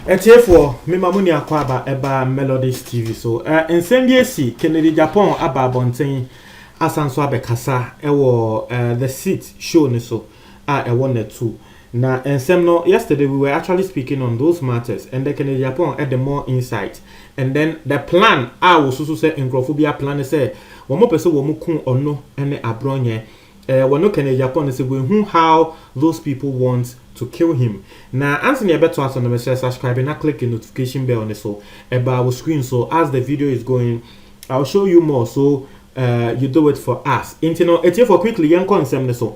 atiefoɔ mema mo ni akɔ aba ɛba melodies tv so uh, nsɛm bi asi kennedy japan aba abɔnten asan so abɛkasa ɛwɔ uh, the seat show no so a ɛwɔ natu na nsɛm no yesterday we were actually speaking on those matters and then Kennedy Aponah ɛde more insight and then the plan a wɔsusu sɛ nkurɔfo bi aplan ne sɛ wɔn pɛ sɛ wɔn ku ɔno ne abrɔnyɛ ɛɛ wɔno Kennedy Aponah sɛ we hu how those people want to kill him na ansa na yɛbɛto aso no mehyɛ subscribe na click the notification bell ne so ɛbaa wɔ screen so as the video is going I'll show you more so Eh, you do it for us. Nti no, etiefo quickly yɛn kɔ nsɛm no so.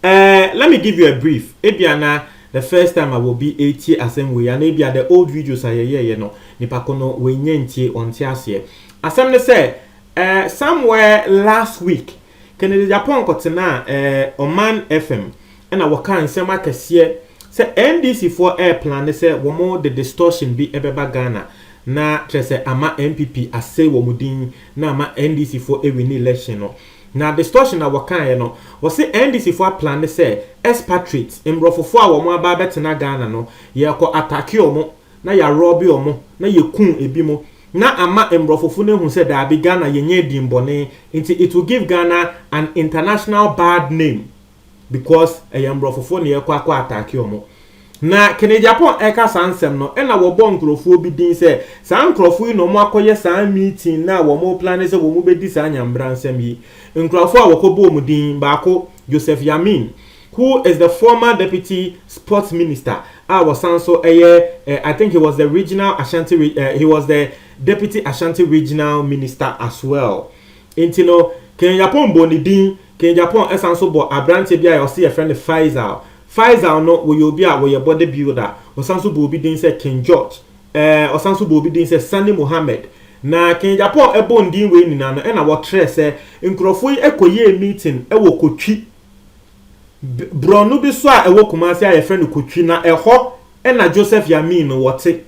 Eh, let me give you a brief. Ebia na the first time a obi etie asɛm wei ana ebia the old videos a yɛyɛɛyɛ no, nipa ko no wɔnyɛ ntie, ɔnte aseɛ. Asɛm no sɛ, eh, somewhere last week, Kennedy Agyapong kɔtenaa eh, Oman FM. Ɛna wɔkaa nsɛm akɛseɛ sɛ NDC foɔ ɛɛplane sɛ wɔn de distortion bi ɛbɛba Ghana na kyerɛ sɛ ama NPP asɛe wɔn din na ama NDC foɔ ɛwini election no. Na distortion a wɔkaeɛ no, wɔse NDC foɔ aplane sɛ expatriates, mmrɔfo foɔ a wɔn aba abɛtena Ghana no, yɛɛkɔ attacke wɔn na yɛarɔbe wɔn na yɛku ɛbinom na ama mmrɔfofo no ahu sɛ daabi Ghana yɛnyɛɛ dimmɔne nti it will give Ghana an international bad name. because ɛyɛ mborɔfofo na yɛkɔ akɔ attack wɔn na kene japan ɛka saa nsɛm no ɛna wɔbɔ nkorɔfoɔ bi din sɛ saa nkorɔfoɔ yi na wɔn akɔyɛ saa meeting na a wɔn plane sɛ wɔn bɛdi saa nyambra nsɛm yi nkorɔfoɔ a wɔkɔ bɔɔ wɔn din baako joseph yamin who is the former deputy sports minister a wɔsan so ɛyɛ eh, i think he was the regional ashanti re, eh, he was the deputy ashanti regional minister as well nti no kene japan bɔ ne din Ken Japon san nso bɔ aberanteɛ bi a ɔse yɛfrɛ no Faisal. Faisal no wɔyɛ obi a wɔyɛ body builder. Ɔsan nso bɔ obi din sɛ Ken George. Ɛɛ ɔsan nso bɔ obi din sɛ Sani Mohammed. Na Ken Japon bɔ ndin wei nyinaa no ɛna wɔtrɛ sɛ nkurɔfoɔ yi kɔyɛɛ meeting wɔ Kotwi brɔno bi so a ɛwɔ Kumasi a yɛfrɛ no Kotwi na ɛhɔ ɛna Joseph Yamin no wɔte.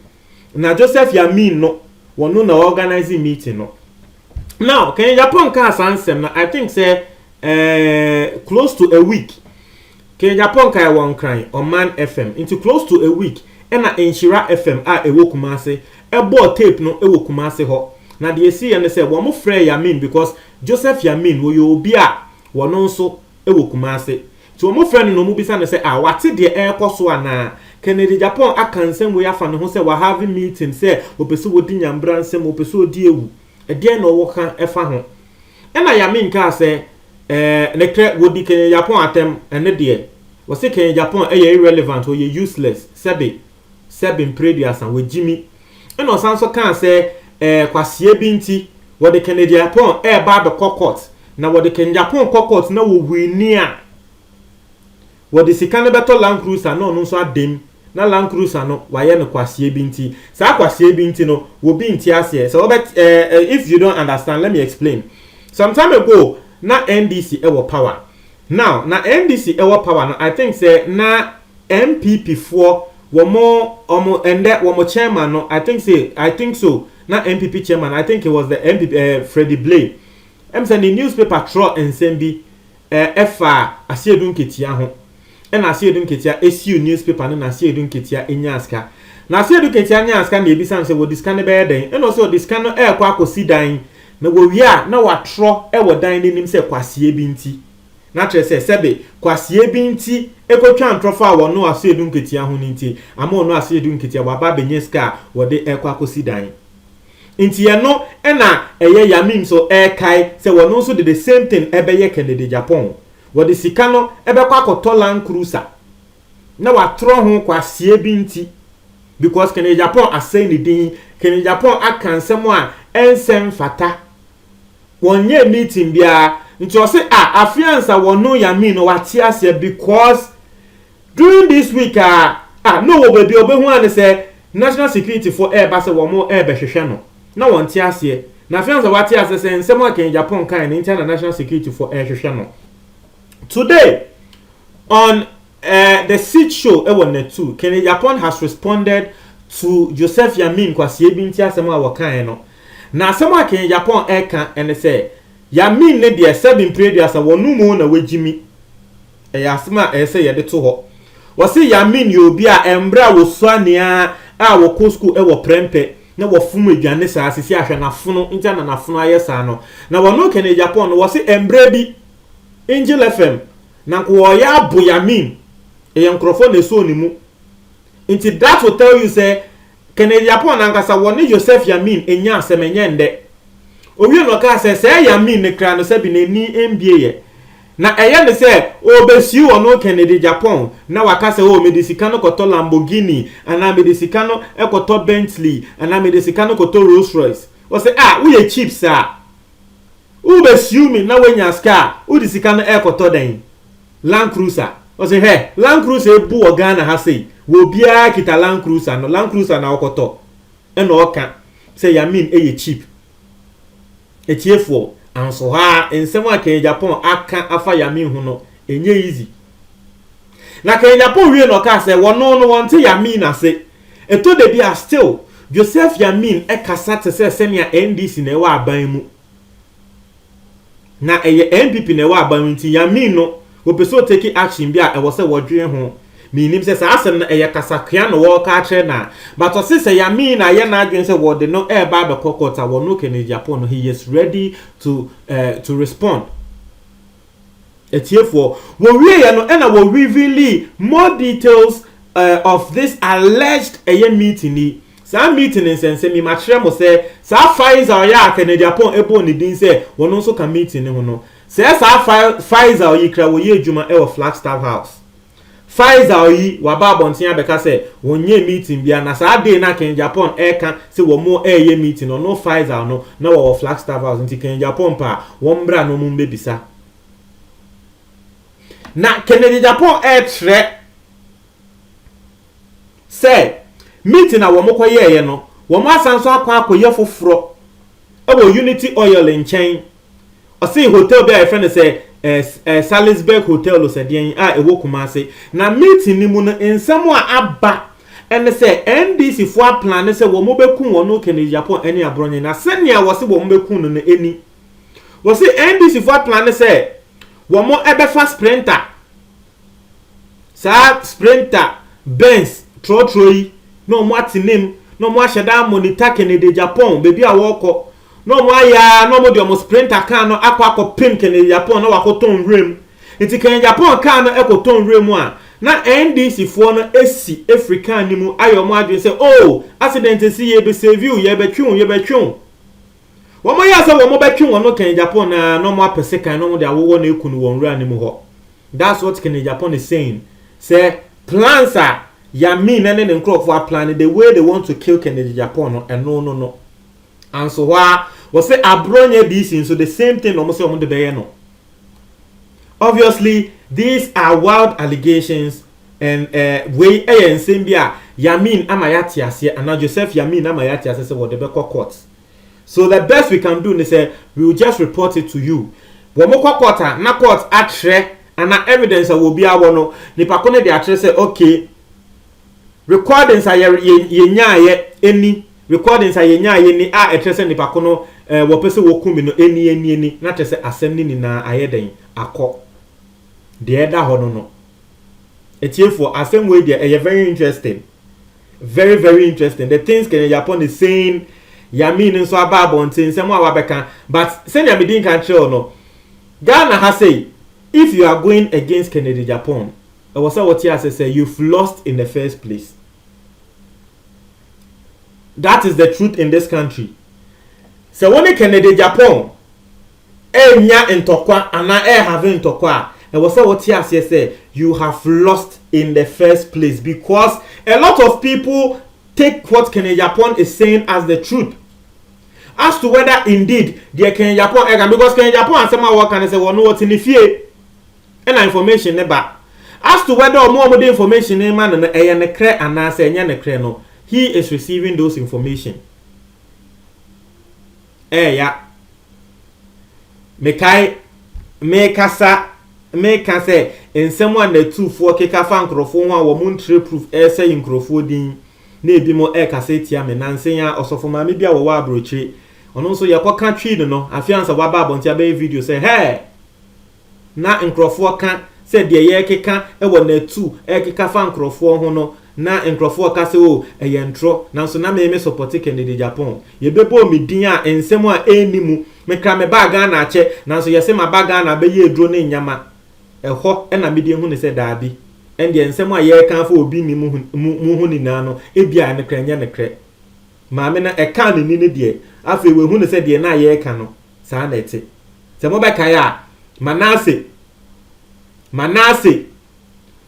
Na Joseph Yamin no wɔno na ɔorganise meeting no. Now Ken Agyapong kaa saa nsɛm no I think sɛ uh, close to a week Ken Agyapong kae wɔ Nkran Ɔman FM nti close to a week ɛna Nhyira FM a ɛwɔ Kumase ɛbɔɔ tape no ɛwɔ Kumase hɔ na deɛ ɛsiiɛ no sɛ wɔn frɛɛ Yamin because Joseph Yamin wɔyɛ obi a wɔn nso wɔ Kumase. Nti wɔfrɛ no na wɔbisa no sɛ ah, wate deɛ ɛrekɔ so anaa? Kennedy Agyapong aka nsɛm wei afa ne ho sɛ wahave meeting sɛ ɔpɛ sɛ ɔdi Nyambra nsam, ɔpɛ sɛ ɔdi awu. Ɛdeɛn na ɔwɔ ka fa ho? Ɛna Yamin kaa sɛ eh, nokorɛ wɔdi Kennedy Agyapong atɛm, ɛno deɛ. Wɔse Kennedy Agyapong yɛ irrelevant, ɔyɛ useless, sɛbe. sɛ bmpire aduasa wɔgye mi ɛna ɔsan nso kaa sɛ ɛɛ kwaseɛ bi nti wɔde kɛnɛdiapɔn ɛɛba abɛkɔ court na wɔde kɛndiapɔn kɔ court na wɔwini a wɔde sika no bɛtɔ land cruiser na ɔno nso adam na land cruiser no wayɛ no kwaseɛ bi nti saa kwaseɛ bi nti no wɔbi nti aseɛ sɛ wɔbɛ ɛɛ if you don't understand let me explain some time ago na ndc ɛwɔ power now na ndc ɛwɔ power no i think sɛ na NPP foɔ wɔn wɔn ɛndɛ wɔn chairman no I think say I think so na NPP chairman I think it was the NPP ɛɛ eh, Freddie Blay ɛm sɛ ne newspaper trɔ nsɛm bi ɛɛ eh, ɛfa Asiedu Nketia ho ɛna Asiedu Nketia esiw newspaper no na Asiedu Nketia enya asika na Asiedu Nketia nya asika na ebisa no sɛ wɔde sika no bɛyɛ dɛn ɛna ɔsɛ ɔde sika no ɛɛkɔ akɔsi dan na wɔwie a na watrɔ ɛwɔ dan n'anim sɛ kwaseɛ bi nti. Na kyerɛ sɛ, sɛbe kwasea bi nti ekotwa ntorɔfo a wɔno aseɛdu nketeaa ho no nti, ama ɔno aseɛdu nketeaa waba abenya sika a wɔde ɛkɔ akosi dan. Nti ɛno na ɛyɛ Yami nso ɛkae sɛ wɔno nso de the same thing ɛbɛyɛ Kennedy Agyapong. Wɔde sika no ɛbɛkɔ akɔtɔ land cruiser na watorɔ ho kwasea bi nti because Kennedy Agyapong asɛe ne din, Kennedy Agyapong aka nsɛm a ɛnsɛ mfata wɔnyɛɛ meeting biara nti ɔse ah afei ansa wɔno Yamin no wate aseɛ because during this week aa ah na ɔwɔ baabi a ɔbɛhu aa ne sɛ national security foɔ ɛɛba sɛ wɔn ɛɛbɛhwehwɛ no na wɔnte aseɛ na afei ansa wate aseɛ sɛ nsɛm a Kanyijapong kae no nti a na national security foɔ ɛɛhwehwɛ no today on eh, the seat show ɛwɔ net two Kanyijapong has responded to Joseph Yamin Kwasiebi nti asɛm a wɔkaeɛ no Na asɛm a Ken Yapon reka ne sɛ, Ya min ne deɛ sɛbe mprɛduasa wɔ no mo na wagyi mi. Ɛyɛ asɛm a ɛyɛ sɛ yɛde to hɔ. Wɔse Ya Min yɛ obi a mmerɛ a wɔsua nea a wɔkɔ sukuu wɔ prɛmpɛ na wɔfom aduane saa sisi ahwɛ nafono nti ana nafono ayɛ saa no. Na wɔno Ken Yapon no wɔse mmerɛ bi Angel FM na nka wɔyɛ abo Ya Min ɛyɛ nkorɔfoɔ na ɛsɔɔ ne mu nti that will tell you sɛ Kennedy Aponah ankasa wɔ ne Joseph Yamin nnya asɛm ɛnyɛ ndɛ. Owie no ɔkaa sɛ sɛɛ Yamin ne kra no sɛbi n'ani mbie yɛ. Na ɛyɛ no sɛ ɔɔbɛsiu ɔno Kennedy Gyapɔn na waka sɛ oo mede sika no kɔtɔ Lamborghini anaa mede sika no kɔtɔ Bentley anaa mede sika no kɔtɔ Rolls Royce. Ɔsɛ ah woyɛ cheap saa. Wobɛsiu me na wanya ska a wode sika no ɛɛkɔtɔ dɛn? Land cruiser ɔse hwɛ land cruiser ebu wɔ Ghana ha sei wɔ obiara kita land cruiser no land cruiser na ɔkɔtɔ ɛna ɔka sɛ yamin ɛyɛ cheap atiefoɔ anso hɔ a nsɛm a Kenya Japan aka afa yamin ho no ɛnyɛ easy na Kenya Japan wie na ɔka sɛ wɔno no wɔnte yamin ase ɛtɔ da bi a still Joseph yamin ɛkasa te sɛ sɛnea NDC na ɛwɔ aban mu Na ɛyɛ NPP na ɛwɔ aban mu nti ya min no wɔpɛ sɛ ɔteki action bi a ɛwɔ sɛ wɔdwene ho. Me nim sɛ saa asɛm no ɛyɛ kasakoa na wɔreka akyerɛ no a but ɔse sɛ ya min no ayɛ n'adwene sɛ wɔde no ɛreba abɛkɔ court a wɔno Kennedy Agyapong no he is ready to eh, to respond. Atiefoɔ, wɔwieɛ no ɛna wɔ reveali more details eh, of this alleged ɛyɛ meeting yi. Saa meeting no nsɛnsɛm yi, makyerɛ mo sɛ saa Faiz a ɔyɛ a Kennedy Apong ɛbɔɔ ne din sɛ ɔno nso ka meeting no ho no, sɛɛ saa Fai, Faizal yi kra wɔyɛ adwuma ɛwɔ Flagstaff House. Faisal yi waba abɔnten abɛka sɛ wɔnyɛɛ meeting biara na saa day no a Kennedy Aponn reka sɛ wɔn reyɛ meeting no ɔno Faisal no na wɔwɔ Flagstaff House nti Kennedy Aponn pɛ a wɔn mmra na wɔn mmɛbisa. Na Kennedy Aponn rekyerɛ sɛ meeting a wɔn kɔyɛeɛ no wɔn asan nso akɔ akɔyɛ foforɔ wɔ Unity Oil nkyɛn Ɔsee hotel bi a yɛfrɛ no sɛ ɛɛ Salisburg Hotel Losɛdeɛn a ɛwɔ Kumase. Na meeting no mu no nsɛm a aba ɛne sɛ NDC foɔ aplane sɛ wɔn bɛkum wɔn Kennedy Agyapong ɛne Aborɔnye na sɛnea wɔse wɔn bɛkum no no ɛni. Wɔse NDC foɔ aplane sɛ wɔn ɛbɛfa Sprinter. saa sprinter benz trɔtrɔ yi na wɔn atenem na wɔn ahyɛ dan mo ne turkey ne de japan baabi a wɔrekɔ na wɔn ayɛ a na wɔn de wɔn sprinter car no akɔ akɔpem kɛnɛ japan na wakɔtɔn nwura mu nti kɛnɛ japan car no ɛkɔtɔn nwura mu a na ndc foɔ no asi afiri car no mu ayɛ wɔn adwene sɛ oh accident si yɛbɛsɛviw yɛbɛtwew yɛbɛtwew Wɔyɛɛ sɛ wɔbɛtwe wɔn kan Japan no ara na wɔapɛ sekan na wɔde awowɔ no aku no wɔ nwura no mu hɔ. That's what Ken Japan is saying, sɛ plans a Yamin ne ne nkurɔfoɔ aplan no, the way they want to kill Ken Japan no, ɛno no no. Anso hɔ ara, wɔse Aborɔnyɛ DC nso, the same thing na wɔn sɛ wɔn de bɛyɛ no. Obviously, these are wild allegations and eh, wei yɛ nsɛm bi a Yamin ama yɛate aseɛ, anaa Joseph Yamin ama yɛate aseɛ sɛ wɔde bɛkɔ court. so the best we can do ne sɛ we will just report it to you wɔn kɔ court a na court akyerɛ ana evidence a wɔ biara wɔ no nipa ko no de akyerɛ sɛ okay recordings a yɛnyaayɛ ɛni recordings a yɛnyaayɛ ni a ɛkyerɛ sɛ nipa ko no eh, wɔpɛ sɛ wɔku me no ɛni ɛni ɛni na kyerɛ sɛ asɛm no nyinaa ayɛ dɛn akɔ deɛ ɛda hɔ no no atiefoɔ asɛm wei deɛ ɛyɛ very interesting Very very interesting the things kenya japan is saying yamin nso aba abɔnten nsɛm a wabɛka but sɛnea medi nka kyerɛw no ghana ha sei if you are going against kennedy japan ɛwɔ sɛ wote ase sɛ you've lost in the first place that is the truth in this country sɛ wo ne kennedy japan ɛrenya ntɔkwa anaa ɛrɛ have ntɔkwa a, ɛwɔ sɛ wote aseɛ sɛ you have lost in the first place because a lot of people take what Kenejapon is saying as the truth as to whether indeed deɛ Kenejapon ɛka because Kenejapon asɛm a wɔka ne sɛ wɔn wɔte ne fie ɛna information ne ba as to whether ɔmo ɔmo de information ne ma no no ɛyɛ ne korɛ anaasɛ ɛnyɛ ne korɛ no he is receiving those information. ɛɛya. Mekae mekasa meka sɛ nsɛm a nnatufoɔ keka fa nkorɔfoɔ ho a wɔn ntrɛ proof ɛɛsɛe nkorɔfoɔ din na ebi mo ɛɛkasa atia me. Nansa yi ara ɔsɔfo maame bi a wɔwɔ abrokyire ɔno nso yɛkɔka twii no no afeansa waba abɔnten abɛyɛ video sɛ hɛɛ! Ná nkurɔfoɔ ka sɛ deɛ yɛrekeka wɔ Natu rekeka fa nkurɔfoɔ ho no, na nkurɔfoɔ ka sɛ oh, ɛyɛ ntorɔ, nanso na me mesɔpɔte Kennedy Agyapong. Yɛbɛbɔɔ me din a nsɛm a ɛnni mu. Mekra mebaa Ghana akyɛ, nanso yɛse maba Ghana abɛyɛ aduro ne nnyama. Ɛhɔ na mede hunu sɛ daabi, ɛndeɛ nsɛm a yɛreka afa obi ne mu ho nyinaa no, ebia ɛno koraa ɛnyɛ nokorɛ. Maame no ɛkaa ne ni no deɛ, afei wahunu sɛ deɛ na yɛreka no, Saa na ɛte. Sɛ mobɛkae a, Manase, Manase,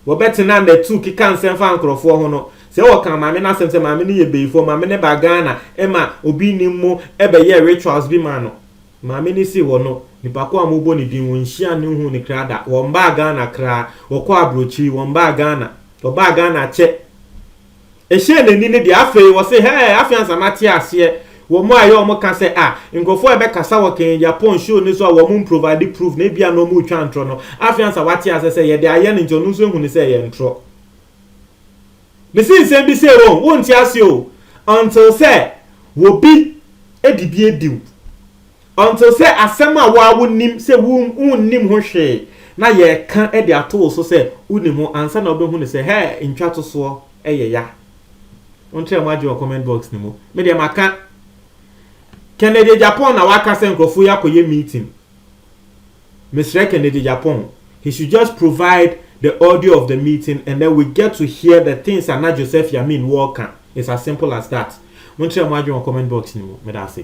wɔbɛtena n'atu keka nsɛm fa nkurɔfoɔ ho no. Sɛ wɔka maame no asɛm sɛ maame no yɛ bayifoɔ, maame no ba Ghana ma obi nnim mo bɛyɛɛ rituals bi maa no. Maame no si hɔ no, nipa ko a mobɔ ne din, wɔnhyiaa no nhuu no kra da. Wɔmbaa Ghana kraa. Wɔkɔɔ aburokyiri, wɔmbaa Ghana. Wɔbaa Ghana kyɛ. Ɛhyɛɛ n'ani no deɛ, afei ɔse, Hɛɛ, afei ansa mate aseɛ. Wɔn a ɛyɛ wɔn ka sɛ, ah, nkurɔfoɔ a ɛbɛkasa wɔ Kenya Japan show no so a wɔn mprovide proof na ebia na wɔretwa ntorɔ no, afei ansa wate aseɛ sɛ yɛde ayɛ no nti ɔno nso ahunu sɛ ɛyɛ ntorɔ. Mese nsɛm bi sei o, wonte aseɛ o, until sɛ obi de bi adi wo. Until sɛ asɛm a wo ara wonim sɛ wonnim ho hwee na yɛreka de ato wo so sɛ wonim ho ansa na wobɛhu no sɛ hɛɛ ntwatosoɔ yɛ ya. Monkyerɛ mo adwene wɔ comment box no mu. Me deɛ maka. Kennedy Agyapong na waka sɛ nkurɔfoɔ yi akɔyɛ meeting. Mesrɛ Kennedy Agyapong, he should just provide the audio of the meeting and then we get to hear the things a na Joseph Yamin wɔreka. It's as simple as that. Monkyerɛ mo adwene wɔ comment box no mu. Meda ase.